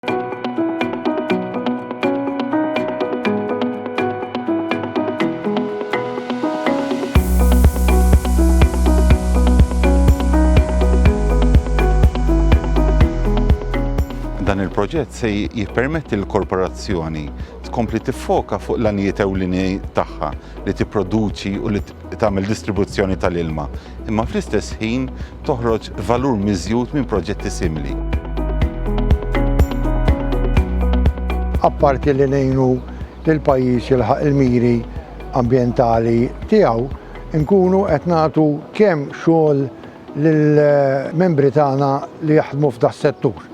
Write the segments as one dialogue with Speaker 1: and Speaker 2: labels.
Speaker 1: Dan il-proġett se jippermetti l-korporazzjoni tkompli tiffoka fuq l-għanijiet ewlieni tagħha li tipproduċi u li tagħmel distribuzzjoni tal-ilma, imma fl-istess ħin toħroġ valur miżjud minn proġetti simili. Apparti li ngħinu lill-pajjiż jilħaq il-miri ambjentali tiegħu, inkunu qed nagħtu kemm xogħol lill-membri tagħna li jaħdmu f'das-settur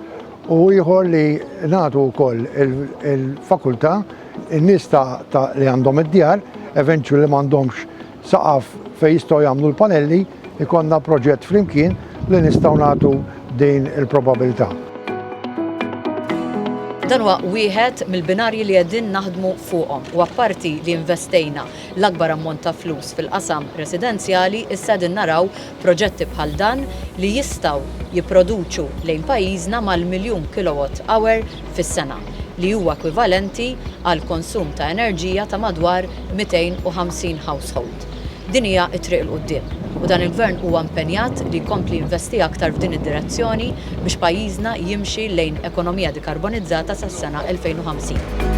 Speaker 1: u ieħor li nagħtu wkoll il-fakultà In-nies ta' ta' li għandhom id-djar eventually li m'għandhomx saqaf fejn jistgħu jagħmlu l-panelli, ikollna proġett flimkien li nistgħu nagħtu din il-probabilità. Dan huwa wieħed mill-binarji li qegħdin naħdmu fuqhom u apparti li investejna l-akbar ammont ta' flus fil-qasam residenzjali, issa qegħdin naraw Proġetti bħal dan li jistgħu jipproduċu lejn pajjiżna mal-miljun kilowatt hour fis-sena, li huwa ekwivalenti għal konsum ta' enerġija ta' madwar 250 household. Din hija t-triq 'il quddiem u dan il-Gvern huwa impenjat li jkompli jinvesti aktar f'din id-direzzjoni biex pajjiżna jimxi lejn ekonomija dikarbonizzata sas-sena 2050.